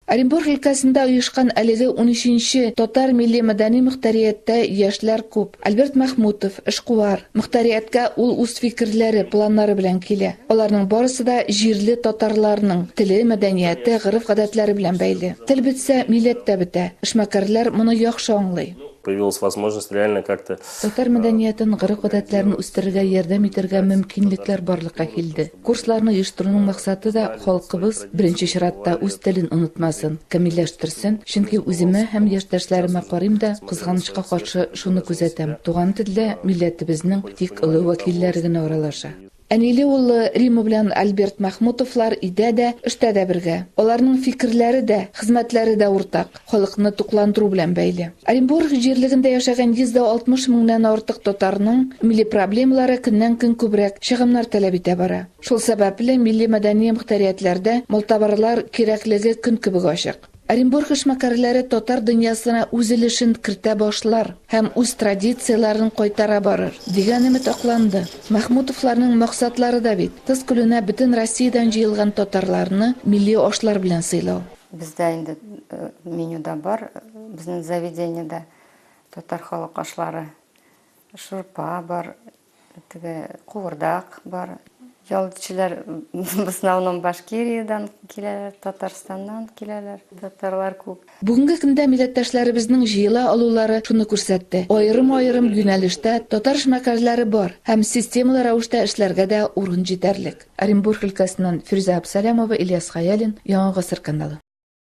Оренбург өлкәсендә оешкан әлеге унөченче Татар милли-мәдәни мөхтәрияттә яшьләр күп. Альберт Мәхмүтов, эшкуар. Мөхтәрияткә ул үз фикерләре, планнары белән килә. Аларның барысы да җирле татарларның теле, мәдәнияте, гореф-гадәтләре белән бәйле. Тел бетсә, милләт тә бетә. Эшмәкәрләр моны яхшы аңлый. Появилась возможность реально как-то. Татар мәдәниятен, гореф-гадәтләрен үстерергә ярдәм итәргә мөмкинлекләр барлыкка килде. Курсларны оештыруның максаты да халкыбыз, беренче чиратта, үз телен онытмасын, камилләштерсен, чөнки үземә һәм яшьтәшләремә карыйм да, кызганычка каршы, шуны күзәтәм, туган телдә милләтебезнең тик олы вәкилләре генә аралаша. Әниле уллы Рима белән Альберт Мәхмүтовлар өйдә дә, эштә дә бергә. Аларның фикерләре дә, хезмәтләре дә уртак. халыкны тукландыру белән бәйле. Оренбург җирлегендә яшәгән 160 меңнән артык татарның милли проблемалары көннән-көн күбрәк чыгымнар таләп итә бара. Шул сәбәпле, милли-мәдәни мохтариатләрдә малтабарлар кирәклеге көн кебек ачык. Оренбург эшмәкәрләре татар дөньясына үз өлешен кертә башлар һәм үз традицияләрен кайтара барыр, дигән өмет акланды. Мәхмүтовларның максатлары да бит, кыз көлүнә бөтен Россиядән җыелган татарларны милли ашлар белән сыйлау. Бездә инде менюда бар, безнең заведениедә татар халык ашлары, шурпа бар, теге куырдак бар. Ялчылар в основном Башкириядән киләләр, Татарстаннан киләләр, татарлар күп. Бүгенге көндә милләттәшләребезнең җыела алулары шуны күрсәтте, аерым-аерым юнәлештә татар эшмәкәрләре бар һәм системалы рәвештә эшләргә дә урын җитәрлек. Оренбург өлкәсеннән Фирүзә Абсалямова, Ильяс Хәялин, Яңа гасыр каналы.